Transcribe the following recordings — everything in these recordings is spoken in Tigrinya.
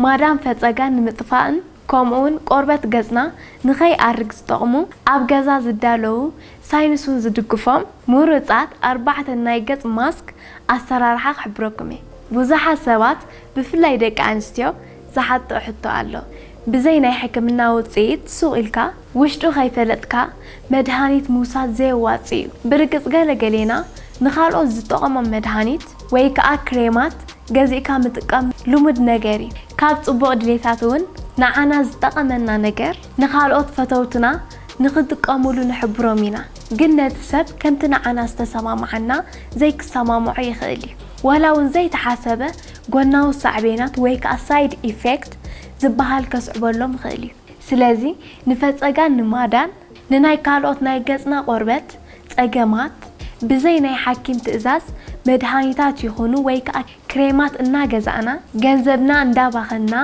ማዳን ፈጸጋ ንምጥፋእን ከምኡውን ቆርበት ገጽና ንኸይኣርግ ዝጠቕሙ ኣብ ገዛ ዝዳለዉ ሳይንስውን ዝድግፎም ምሩጻት ኣርባዕተ ናይ ገጽ ማስክ ኣሰራርሓ ክሕብረኩም እየ። ብዙሓት ሰባት ብፍላይ ደቂ ኣንስትዮ ዝሓትትኦ ሕቶ ኣሎ። ብዘይ ናይ ሕክምና ውጽኢት ሱቕ ኢልካ ውሽጡ ከይፈለጥካ መድሃኒት ምውሳድ ዘየዋጽእ እዩ። ብርግጽ ገለ ገሌና ንኻልኦት ዝጠቐሞም መድሃኒት ወይ ከኣ ክሬማት ገዚእካ ምጥቃም ልሙድ ነገር እዩ። ካብ ጽቡቕ ድሌታት እውን ንዓና ዝጠቐመና ነገር ንኻልኦት ፈተውትና ንኽጥቀሙሉ ንሕብሮም ኢና። ግን ነቲ ሰብ ከምቲ ንዓና ዝተሰማምዓና ዘይክሰማምዖ ይኽእል እዩ። ዋላ እውን ዘይተሓሰበ ጎናዊ ሳዕቤናት ወይ ከኣ ሳይድ ኢፌክት ዝበሃል ከስዕበሎም ይኽእል እዩ። ስለዚ ንፈጸጋን ንማዳን ንናይ ካልኦት ናይ ገጽና ቆርበት ጸገማት ብዘይ ናይ ሓኪም ትእዛዝ መድሃኒታት ይኹኑ ወይ ከኣ ክሬማት እናገዛእና ገንዘብና እንዳባኸንና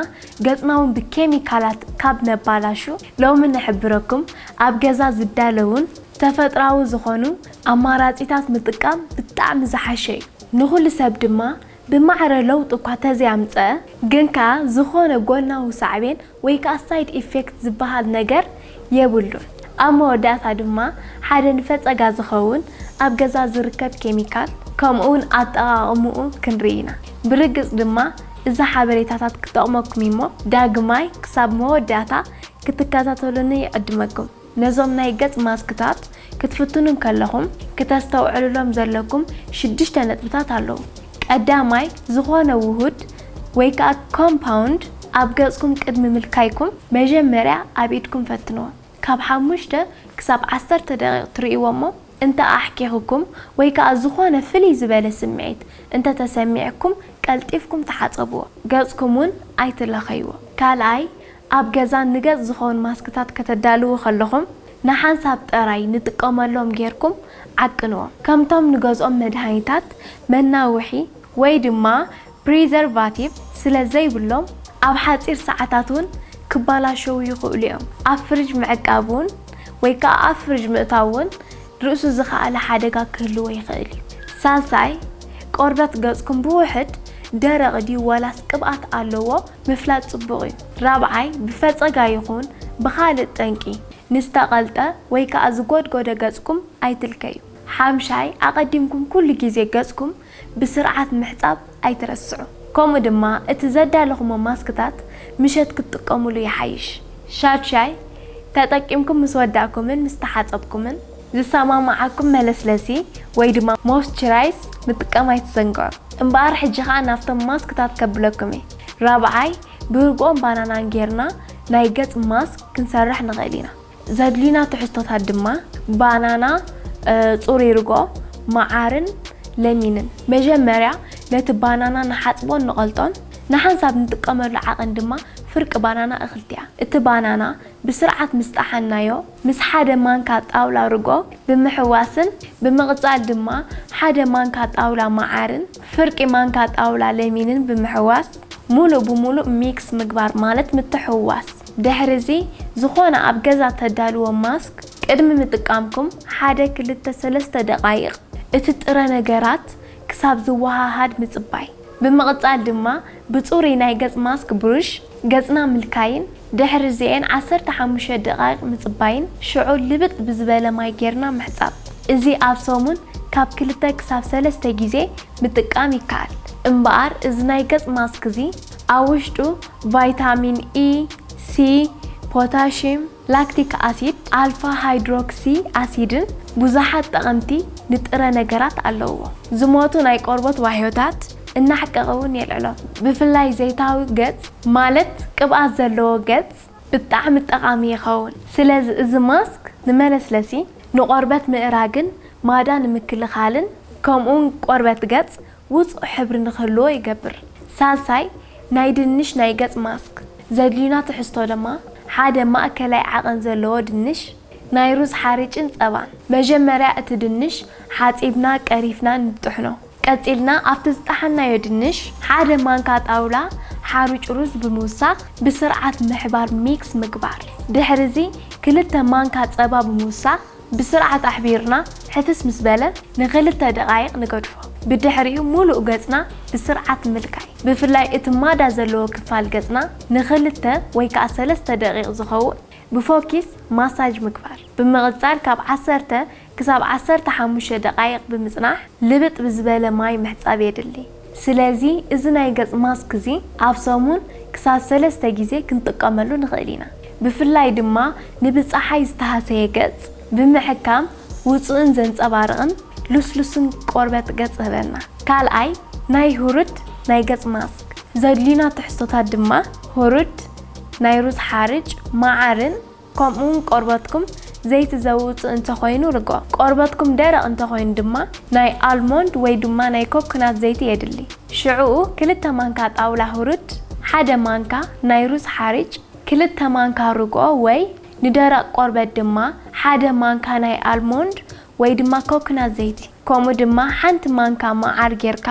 ገጽናውን ብኬሚካላት ካብ ነባላሹ ሎሚ ንሕብረኩም ኣብ ገዛ ዝዳለውን ተፈጥራዊ ዝኾኑ ኣማራጺታት ምጥቃም ብጣዕሚ ዝሓሸ እዩ ንኹሉ ሰብ ድማ ብማዕረ ለውጢ እኳ ተዘይኣምጸኣ ግን ከኣ ዝኾነ ጎናዊ ሳዕቤን ወይ ከኣ ሳይድ ኢፌክት ዝበሃል ነገር የብሉን። ኣብ መወዳእታ ድማ ሓደ ንፈጸጋ ዝኸውን ኣብ ገዛ ዝርከብ ኬሚካል ከምኡውን ኣጠቓቕምኡ ክንርኢ ኢና። ብርግጽ ድማ እዚ ሓበሬታታት ክጠቕመኩም እዩሞ ዳግማይ ክሳብ መወዳእታ ክትከታተሉኒ ይዕድመኩም። ነዞም ናይ ገጽ ማስክታት ክትፍትኑ እንከለኹም ክተስተውዕሉሎም ዘለኩም ሽዱሽተ ነጥብታት ኣለዉ። ቀዳማይ፣ ዝኾነ ውሁድ ወይ ከኣ ኮምፓውንድ ኣብ ገጽኩም ቅድሚ ምልካይኩም መጀመርያ ኣብ ኢድኩም ፈትንዎ። ካብ ሓሙሽተ ክሳብ ዓሰርተ ደቒቕ ትርእይዎ'ሞ እንተ ኣሕኪኹኩም ወይ ከኣ ዝኾነ ፍልይ ዝበለ ስምዒት እንተ ተሰሚዕኩም ቀልጢፍኩም ተሓጸብዎ። ገጽኩም ውን ኣይትለኸይዎ። ካልኣይ፣ ኣብ ገዛ ንገጽ ዝኾኑ ማስክታት ከተዳልዉ ከለኹም ንሓንሳብ ጥራይ ንጥቀመሎም ጌርኩም ዓቅንዎም። ከምቶም ንገዝኦም መድሃኒታት፣ መናውሒ ወይ ድማ ፕሪዘርቫቲቭ ስለ ዘይብሎም ኣብ ሓጺር ሰዓታት እውን ክበላሸዉ ይኽእሉ እዮም። ኣብ ፍርጅ ምዕቃብ እውን ወይ ከኣ ኣብ ፍርጅ ምእታው እውን ርእሱ ዝኸኣለ ሓደጋ ክህልዎ ይኽእል እዩ። ሳልሳይ፣ ቆርበት ገጽኩም ብውሑድ ደረቕ ድዩ ዋላስ ቅብኣት ኣለዎ ምፍላጥ ጽቡቕ እዩ። ራብዓይ፣ ብፈጸጋ ይኹን ብኻልእ ጠንቂ ንዝተቐልጠ ወይ ከኣ ዝጎድጎደ ገጽኩም ኣይትልከዩ። ሓምሻይ፣ ኣቐዲምኩም ኩሉ ግዜ ገጽኩም ብስርዓት ምሕጻብ ኣይትረስዑ። ከምኡ ድማ እቲ ዘዳለኹሞ ማስክታት ምሸት ክትጥቀሙሉ ይሓይሽ። ሻድሻይ፣ ተጠቂምኩም ምስ ወዳእኩምን ምስ ተሓጸብኩምን፣ ዝሰማማዓኩም መለስለሲ ወይ ድማ ሞይስቸራይዝ ምጥቃም ኣይትዘንግዑ። እምበኣር ሕጂ ከኣ ናብቶም ማስክታት ከብለኩም እየ። ራብዓይ፣ ብርግኦን ባናናን ጌርና ናይ ገጽ ማስክ ክንሰርሕ ንኽእል ኢና። ዘድልዩና ትሕዝቶታት ድማ ባናና፣ ጽሩይ ርጎ፣ መዓርን ለሚንን። መጀመርያ ነቲ ባናና ንሓጽቦን ንቐልጦን። ንሓንሳብ ንጥቀመሉ ዓቐን ድማ ፍርቂ ባናና እኽልቲያ። እቲ ባናና ብስርዓት ምስ ጠሓንናዮ ምስ ሓደ ማንካ ጣውላ ርጎ ብምሕዋስን ብምቕጻል ድማ ሓደ ማንካ ጣውላ መዓርን ፍርቂ ማንካ ጣውላ ለሚንን ብምሕዋስ ሙሉእ ብሙሉእ ሚክስ ምግባር ማለት ምትሕውዋስ። ድሕሪ'ዚ ዝኾነ ኣብ ገዛ እተዳልዎ ማስክ ቅድሚ ምጥቃምኩም ሓደ ክልተ ሰለስተ ደቓይቕ እቲ ጥረ ነገራት ክሳብ ዝወሃሃድ ምጽባይ። ብምቕጻል ድማ ብጽሩይ ናይ ገጽ ማስክ ብሩሽ ገጽና ምልካይን ድሕሪ'ዚኤን ዓሰርተ ሓሙሽተ ደቓይቕ ምጽባይን ሽዑ ልብጥ ብዝበለ ማይ ጌርና ምሕጻብ። እዚ ኣብ ሰሙን ካብ ክልተ ክሳብ ሰለስተ ግዜ ምጥቃም ይከኣል። እምበኣር እዚ ናይ ገጽ ማስክ'ዚ ኣብ ውሽጡ ቫይታሚን ኢ፣ ሲ፣ ፖታሽየም፣ ላክቲክ ኣሲድ፣ ኣልፋ ሃይድሮክሲ ኣሲድን ብዙሓት ጠቐምቲ ንጥረ ነገራት ኣለዉዎ። ዝሞቱ ናይ ቆርቦት ዋህዮታት እናሕቀቐ እውን የልዕሎም። ብፍላይ ዘይታዊ ገጽ ማለት ቅብኣት ዘለዎ ገጽ ብጣዕሚ ጠቓሚ ይኸውን። ስለዚ እዚ ማስክ ንመለስለሲ፣ ንቆርበት ምእራግን ማዳ ንምክልኻልን ከምኡውን ቆርበት ገጽ ውጹእ ሕብሪ ንክህልዎ ይገብር። ሳልሳይ፣ ናይ ድንሽ ናይ ገጽ ማስክ ዘድልዩና ትሕዝቶ ደማ፣ ሓደ ማእከላይ ዓቐን ዘለዎ ድንሽ፣ ናይ ሩዝ ሓርጭን ጸባን። መጀመርያ እቲ ድንሽ ሓጺብና ቀሪፍናን ንጥሕኖ። ቀጺልና ኣብቲ ዝጠሓንናዮ ድንሽ ሓደ ማንካ ጣውላ ሓሩጭ ሩዝ ብምውሳኽ ብስርዓት ምሕባር፣ mix፣ ምግባር። ድሕሪዚ ክልተ ማንካ ጸባ ብምውሳኽ። ብስርዓት ኣሕቢርና ሕትስ ምስ በለ ንክልተ ደቓይቕ ንገድፎ። ብድሕሪኡ ሙሉእ ገጽና ብስርዓት ምልካይ። ብፍላይ እቲ ማዳ ዘለዎ ክፋል ገጽና ንክልተ ወይ ከኣ ሰለስተ ደቒቕ ዝኸውን ብፎኪስ ማሳጅ ምግባር። ብምቕጻል ካብ ዓሰርተ ክሳብ ዓሰርተ ሓሙሽተ ደቓይቕ ብምጽናሕ ልብጥ ብዝበለ ማይ ምሕጻብ የድሊ። ስለዚ እዚ ናይ ገጽ ማስክ እዚ ኣብ ሰሙን ክሳብ ሰለስተ ግዜ ክንጥቀመሉ ንኽእል ኢና። ብፍላይ ድማ ንብጸሓይ ዝተሃሰየ ገጽ ብምሕካም ውጹእን ዘንጸባርቕን ልስሉስን ቆርበት ገጽ ህበና። ካልኣይ ናይ ህሩድ ናይ ገጽ ማስክ ዘድልዩና ትሕዝቶታት ድማ ህሩድ ናይ ሩዝ ሓርጭ፣ መዓርን ከምኡውን ቆርበትኩም ዘይቲ ዘውጽእ እንተ ዀይኑ ርግኦ። ቆርበትኩም ደረቕ እንተ ዀይኑ ድማ፣ ናይ ኣልሞንድ ወይ ድማ ናይ ኮኮናት ዘይቲ የድሊ። ሽዕኡ ክልተ ማንካ ጣውላ ሁሩድ፣ ሓደ ማንካ ናይ ሩዝ ሓርጭ፣ ክልተ ማንካ ርግኦ ወይ ንደረቕ ቆርበት ድማ ሓደ ማንካ ናይ ኣልሞንድ ወይ ድማ ኮክናት ዘይቲ ከምኡ ድማ ሓንቲ ማንካ መዓር ጌርካ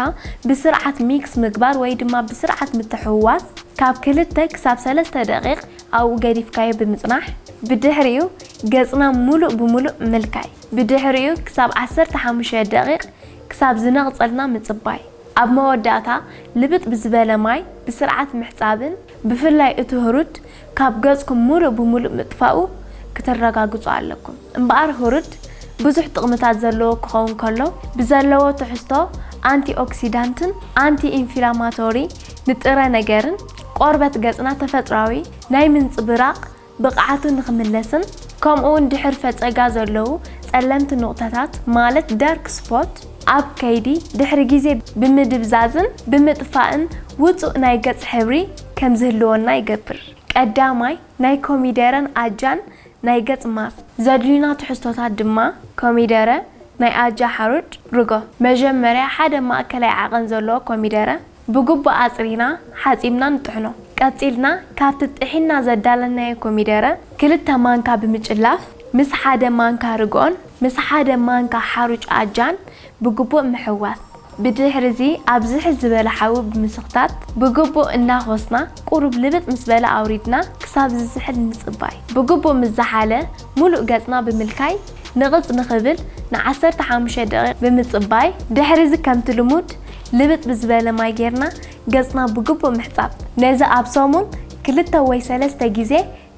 ብስርዓት ሚክስ ምግባር ወይ ድማ ብስርዓት ምትሕውዋስ ካብ ክልተ ክሳብ ሰለስተ ደቂቅ ኣብኡ ገዲፍካዮ ብምጽናሕ ብድሕሪኡ ገጽና ምሉእ ብምሉእ ምልካይ ብድሕሪኡ ክሳብ ዓሰርተ ሓሙሽተ ደቂቅ ክሳብ ዝነቅጸልና ምጽባይ ኣብ መወዳእታ ልብጥ ብዝበለ ማይ ብስርዓት ምሕጻብን ብፍላይ እቲ ህሩድ ካብ ገጽኩም ምሉእ ብምሉእ ምጥፋኡ ክተረጋግጹ ኣለኩም። እምበኣር ሁርድ ብዙሕ ጥቕምታት ዘለዎ ክኸውን ከሎ፣ ብዘለዎ ትሕዝቶ ኣንቲኦክሲዳንትን ኣንቲኢንፊላማቶሪ ንጥረ ነገርን፣ ቆርበት ገጽና ተፈጥሮኣዊ ናይ ምንጽብራቕ ብቕዓቱ ንኽምለስን ከምኡ'ውን ድሕር ፈጸጋ ዘለዉ ጸለምቲ ኑቕታታት ማለት ዳርክ ስፖት ኣብ ከይዲ ድሕሪ ግዜ ብምድብዛዝን ብምጥፋእን ውጹእ ናይ ገጽ ሕብሪ ከምዝህልወና ይገብር። ቀዳማይ፣ ናይ ኮሚደረን ኣጃን ናይ ገጽ ማስክ። ዘድልዩና ትሕዝቶታት ድማ፣ ኮሚደረ፣ ናይ ኣጃ ሓሩጭ፣ ርጎ። መጀመርያ ሓደ ማእከላይ ዓቐን ዘለዎ ኮሚደረ ብግቡእ ኣጽሪና ሓጺብና ንጥሕኖ። ቀጺልና ካብቲ ጥሒንና ዘዳለናዮ ኮሚደረ ክልተ ማንካ ብምጭላፍ ምስ ሓደ ማንካ ርጎን ምስ ሓደ ማንካ ሓሩጭ ኣጃን ብግቡእ ምሕዋስ፣ ብድሕሪ'ዚ ኣብ ዝሕል ዝበለ ሓዊ ብምስኽታት ብግቡእ እናኾስና ቁሩብ ልብጥ ምስ በለ ኣውሪድና ክሳብ ዝዝሕል ምጽባይ። ብግቡእ ምስ ዝሓለ ሙሉእ ገጽና ብምልካይ ንቕጽ ንኽብል ን ዓሰርተ ሓሙሽተ ደቒቕ ብምጽባይ ድሕሪ'ዚ ከምቲ ልሙድ ልብጥ ብዝበለ ማይ ጌርና ገጽና ብግቡእ ምሕጻብ። ነዚ ኣብ ሰሙን ክልተ ወይ ሰለስተ ግዜ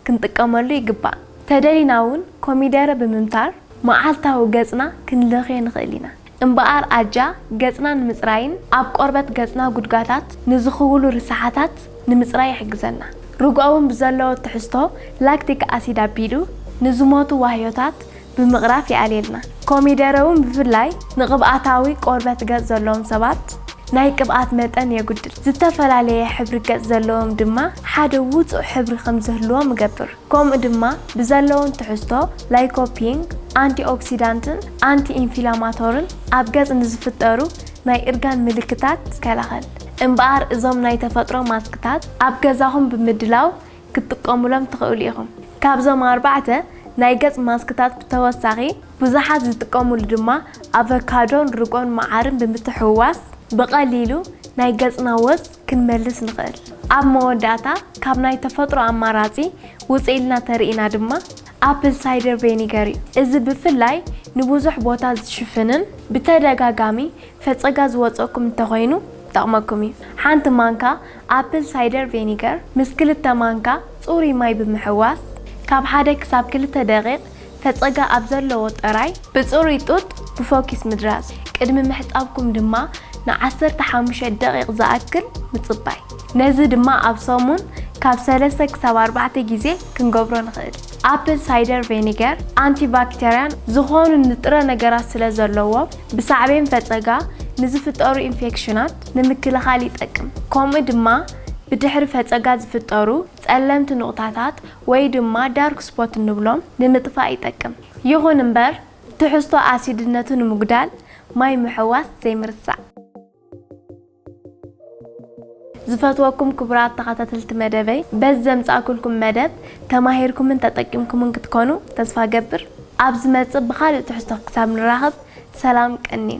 ክንጥቀመሉ ይግባእ። ተደሊና እውን ኮሚደረ ብምምታር መዓልታዊ ገጽና ክንለኽዮ ንኽእል ኢና። እምበኣር ኣጃ ገጽና ንምጽራይን ኣብ ቆርበት ገጽና ጉድጋታት ንዝኽውሉ ርስሓታት ንምጽራይ ይሕግዘና። ርጓውን ብዘለዎ ትሕዝቶ ላክቲክ ኣሲድ ኣቢሉ ንዝሞቱ ዋህዮታት ብምቕራፍ ይኣልየልና። ኮሚደረ ውን ብፍላይ ንቕብኣታዊ ቆርበት ገጽ ዘለዎም ሰባት ናይ ቅብኣት መጠን የጉድል። ዝተፈላለየ ሕብሪ ገጽ ዘለዎም ድማ ሓደ ውጹእ ሕብሪ ከም ዝህልዎም እገብር። ከምኡ ድማ ብዘለዎም ትሕዝቶ ላይኮፒንግ፣ ኣንቲኦክሲዳንትን ኣንቲ ኢንፊላማቶርን ኣብ ገጽ ንዝፍጠሩ ናይ እርጋን ምልክታት ይከላኸል። እምበኣር እዞም ናይ ተፈጥሮ ማስክታት ኣብ ገዛኹም ብምድላው ክትጥቀሙሎም ትኽእሉ ኢኹም። ካብዞም ኣርባዕተ ናይ ገጽ ማስክታት ብተወሳኺ፣ ብዙሓት ዝጥቀሙሉ ድማ ኣቨካዶን ርጎን መዓርን ብምትሕውዋስ ብቐሊሉ ናይ ገጽና ወዝ ክንመልስ ንኽእል። ኣብ መወዳእታ ካብ ናይ ተፈጥሮ ኣማራጺ ውጽእ ኢልና ተርእይና ድማ ኣፕል ሳይደር ቬኒገር እዩ። እዚ ብፍላይ ንብዙሕ ቦታ ዝሽፍንን ብተደጋጋሚ ፈጸጋ ዝወጸኩም እንተኾይኑ ይጠቕመኩም እዩ። ሓንቲ ማንካ ኣፕል ሳይደር ቬኒገር ምስ ክልተ ማንካ ጽሩይ ማይ ብምሕዋስ፣ ካብ ሓደ ክሳብ ክልተ ደቒቕ ፈጸጋ ኣብ ዘለዎ ጥራይ፣ ብጽሩይ ጡጥ ብፎኪስ ምድራዝ፣ ቅድሚ ምሕጻብኩም ድማ ን ዓሰርተ ሓሙሽተ ደቒቕ ዝኣክል ምጽባይ። ነዚ ድማ ኣብ ሰሙን ካብ ሰለስተ ክሳብ ኣርባዕተ ግዜ ክንገብሮ ንኽእል። ኣፕል ሳይደር ቬኒገር ኣንቲባክተርያን ዝኾኑ ንጥረ ነገራት ስለዘለዎም፣ ብሳዕቤን ፈጸጋ ንዝፍጠሩ ኢንፌክሽናት፣ ንምክልኻል ይጠቅም፣ ከምኡ ድማ ብድሕሪ ፈፀጋ ዝፍጠሩ ፀለምቲ ኑቕታታት ወይ ድማ ዳርክ ስፖት እንብሎም ንምጥፋእ ይጠቅም። ይኹን እምበር ትሕዝቶ ኣሲድነቱ ንምጉዳል ማይ ምሕዋስ ዘይምርሳዕ። ዝፈትወኩም ክቡራት ተኸታተልቲ መደበይ በዚ ዘምፃእኩልኩም መደብ ተማሂርኩምን ተጠቂምኩምን ክትኮኑ ተስፋ እገብር። ኣብ ዝመፅእ ብኻሊእ ትሕዝቶ ክሳብ ንራኸብ ሰላም ቀንዩ።